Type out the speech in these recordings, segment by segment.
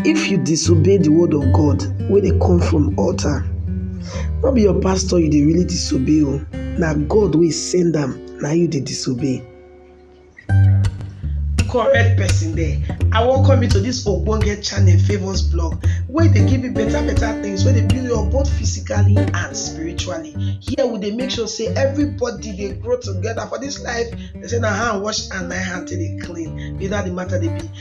If you disobey the word of God wey dey come from altar, no be your pastor you dey really disobey o, na God wey send am na you dey disobey. correct person there i welcome you to this ogbonge channel favours blog wey dey give you better better things wey dey build you up both physically and spiritually here we dey make sure say everybody dey grow together for this life they say na hand wash and na hand take dey clean be that the matter dey be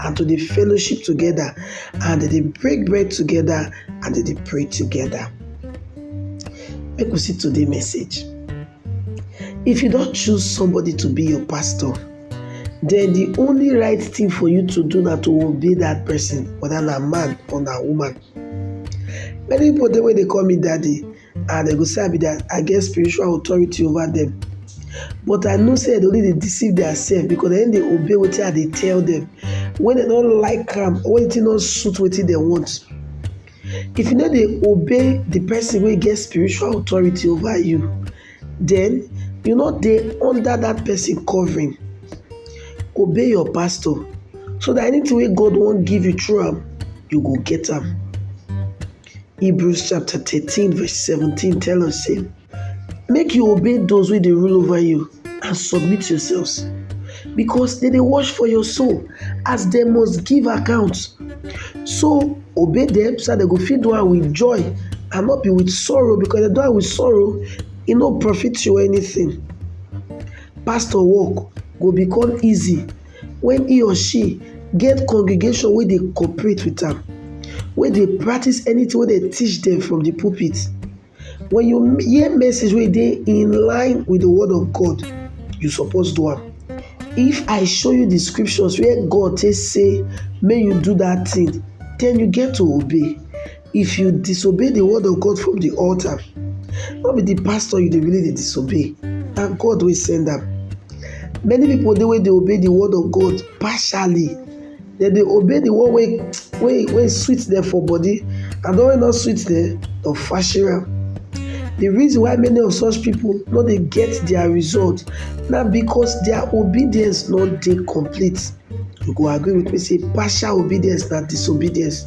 and to dey fellowship together and dem dey break bread together and dem dey pray together. Make we see today message. If you don choose somebody to be your pastor, then the only right thing for you to do na to obey that person, whether na man or na woman. Many people dey wey dey call me daddy, and dem go say I be their I get spiritual authority over them but I know say dem only dey deceive theirself because dem dey obey wetin I dey tell them when dem no like am or wetin no suit wetin dem want if you no dey obey the person wey get spiritual authority over you then you no dey under that person covering obey your pastor so that anything wey God wan give you through am you go get am Hebrews chapter 13 verse 17 tell us say make you obey those wey dey rule over you and submit yourselves because dem dey watch for your soul as dem must give account. So obey dem so dat dem go fit do am with joy and not be with sorrow because dem do am with sorrow e no profit you anything. Pastor work go become easy When he or she get congregation wey dey cooperate with am, wey dey practice anything wey dey teach them from the pulpit, when you hear message wey dey in line with the word of God, you suppose do am. If I show you the scriptures where God take say make you do that thing, then you get to obey. If you disobey the word of God from the altar, no be the pastor you dey really dey disobey, na God wey send am. Many people dey wey dey obey the word of God partially. Dem dey obey the one wey wey wey sweet them for body and the one wey no sweet them, dem fashion am. The reason why many of such people no dey get their result na because their obedience no dey complete. You go agree with me say partial obedience na disobedience.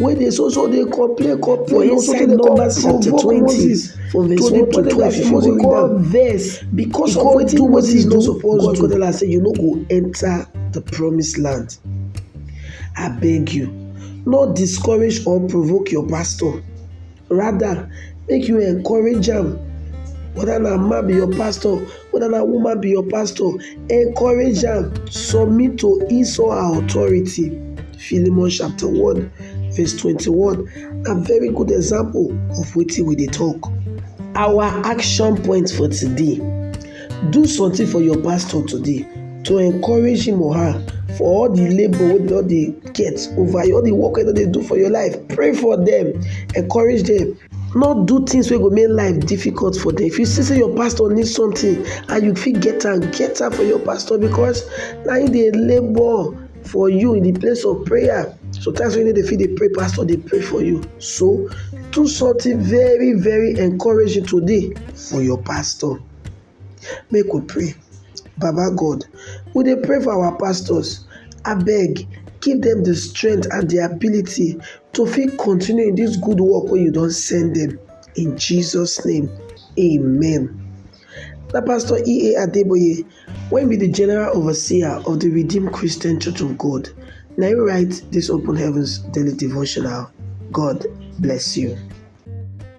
wey dey so so dey complain complain o sotey dey come provoke Moses to dey tell am dat he must come vex because of wetin Moses no suppose do, God come tell am sey you no go enter the promise land abeg you no discourage or provoke your pastor rather make you encourage am whether na man be your pastor whether na woman be your pastor encourage am submit to his or her authority Philemon chapter one verse twenty-one na very good example of wetin we dey talk our action point for today Do something for your pastor today to encourage him or her for all the labour wey don dey get over you, all the work wey don dey do for your life. Pray for them, encourage them. No do things wey go make life difficult for them. If you see say your pastor need something and you fit get am, get am for your pastor because na him dey labour for you in the place of prayer. Sometimes when you no dey fit dey pray, pastor dey pray for you. So do something very very encouraging today for your pastor. Make we pray, Baba God we dey pray for our pastors abeg give dem de strength and de ability to fit continue in dis good work wey you don send dem in Jesus name amen. Na pastor EA Adeboye wey be de general overseer of de redeem Christian church of God na im write dis open heavens daily devotional God bless you.